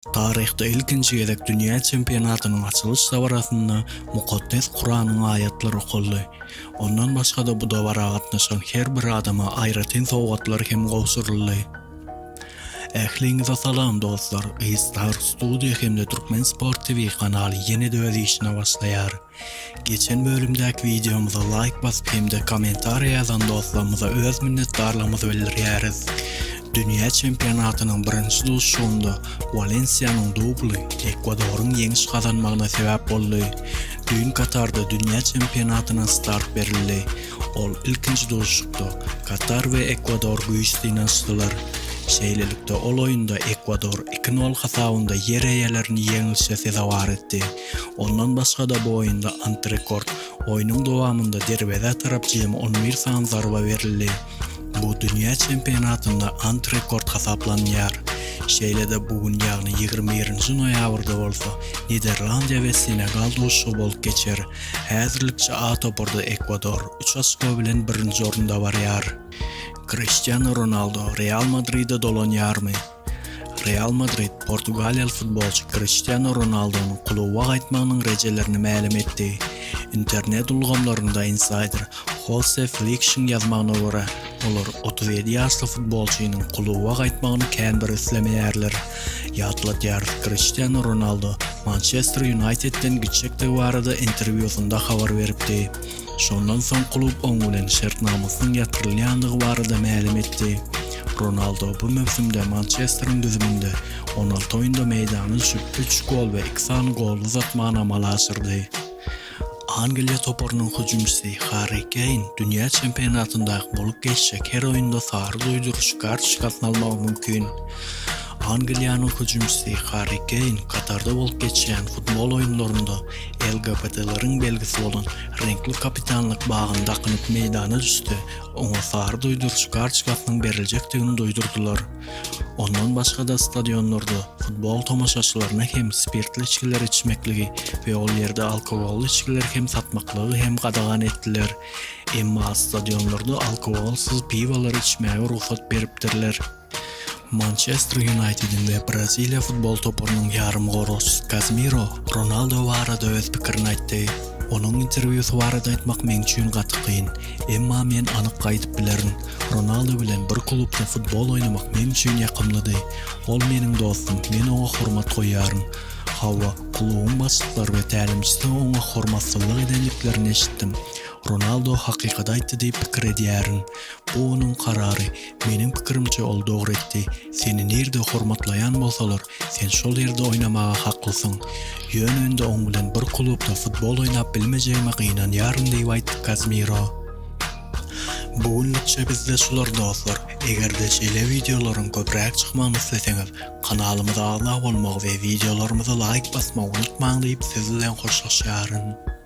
Taryhda ilkinji gezek dünýä çempionatynyň açylyş dabarasynda Mukaddes Kuranyň aýatlary okaldy. Ondan başga-da bu dabara gatnaşan her bir adama aýratyn sowgatlar hem gowşuryldy. Ähliňize salam dostlar! Ystar Studio hem-de Türkmen Sport TV kanaly ýene-de öz işine başlaýar. Geçen bölümdäki wideomyza laýk basyp hem-de kommentariýa ýazan dostlarymyza öz minnetdarlygymyzy bildirýäris. Dünýä çempionatynyň birinji duşuşygynda Walensiýanyň dubly Ekwadoryň ýeňiş gazanmagyna sebäp boldy. Düýn Katarda dünýä çempionatyna start berildi. Ol ilkinji duşuşykda Katar we Ekwador güýç synanyşdylar. Şeýlelikde, ol oýunda Ekwador iki nol hasabynda ýer eýelerini ýeňlişe sezewar etdi. Ondan başga-da bu oýunda antirekord. Oýnuň dowamynda derwezä tarap jemi on bir sany zarba berildi. Bu dünýä çempionatynda antirekord hasaplanýar. Şeýle-de bu gün ýagny ýigrimi birinji noýabrda bolsa Niderlandiýa we Senegal duşuşygy bolup geçer. Häzirlikçe A toparda Ekwador üç oçko bilen birinji orunda barýar. Kriştianu Ronaldo Real Madride dolanýarmy? Real Madrid portugaliýaly futbolçy Kriştianu Ronaldonyň kluba gaýtmagynyň rejelerini mälim etdi. Internet ulgamlarynda insaýder Hose Fliksiň ýazmagyna görä, olar otuz ýedi ýaşly futbolçynyň kluba gaýtmagyny kän bir islemeýärler. Ýatladýarys, Kriştianu Ronaldo Mançester Ýunaýtedden gitjekdigi barada interwýusynda habar beripdi. Şondan soň klub oň bilen şertnamasynyň ýatyrylýandygy barada mälim etdi. Ronaldo bu möwsümde Mançesteriň düzüminde on alty oýunda meýdana düşüp, üç gol we iki sany gol uzatmany amala aşyrdy. Angliýa toparynyň hüjümçisi Harri Keýn dünýä çempionatyndaky bolup geçjek her oýunda sary duýduryş kartoçkasyny almagy mümkin. Angliýanyň hüjümçisi Harri Keýn Katarda bolup geçýän futbol oýunlarynda LGBTlaryň belgisi bolan reňkli kapitanlyk bagyny dakynyp meýdana düşse, oňa sary duýduryş kartoçkasynyň beriljekdigini duýdurdylar. Ondan başga-da stadionlarda futbol tomaşaçylaryna hem spirtli içgileri içmekligi we ol ýerde alkogolly içgileri hem satmaklygy hem gadagan etdiler. Emma stadionlarda alkogolsyz piwolary içmäge rugsat beripdirler. Mançester Ýunaýtediň we Braziliýa futbol toparynyň ýarymgoragçysy Kazmiro Ronaldo barada öz pikirini aýtdy, Onuň interwýusy barada aýtmak meň üçin gaty kyn. Emma men anyk aýdyp bilerin, Ronaldo bilen bir klubda futbol oýnamak meň üçin ýakymlydy. Ol meniň dostum, men oňa hormat goýýaryn. Hawa, klubuň başlyklary we tälimçisi oňa hormatsyzlyk edendiklerini eşitdim. Ronaldo hakykady aýtdy diýip pikir edýärin. Bu onuň karary. Meniň pikirimçe ol dogry etdi, seni nirde hormatlaýan bolsalar sen şol ýerde oýnamaga haklysyň. Ýöne indi oň bilen bir klubda futbol oýnap bilmejegime gynanýaryn diýip aýtdy Kazmiro. Bu günlükçe bizde şular dostlar, egerde şeýle wideolaryň köpräk çykmagyny isleseňiz kanalymyza agza bolmagy we wideolarymyza laýk basmagy unutmaň diýip siz bilen hoşlaşýaryn.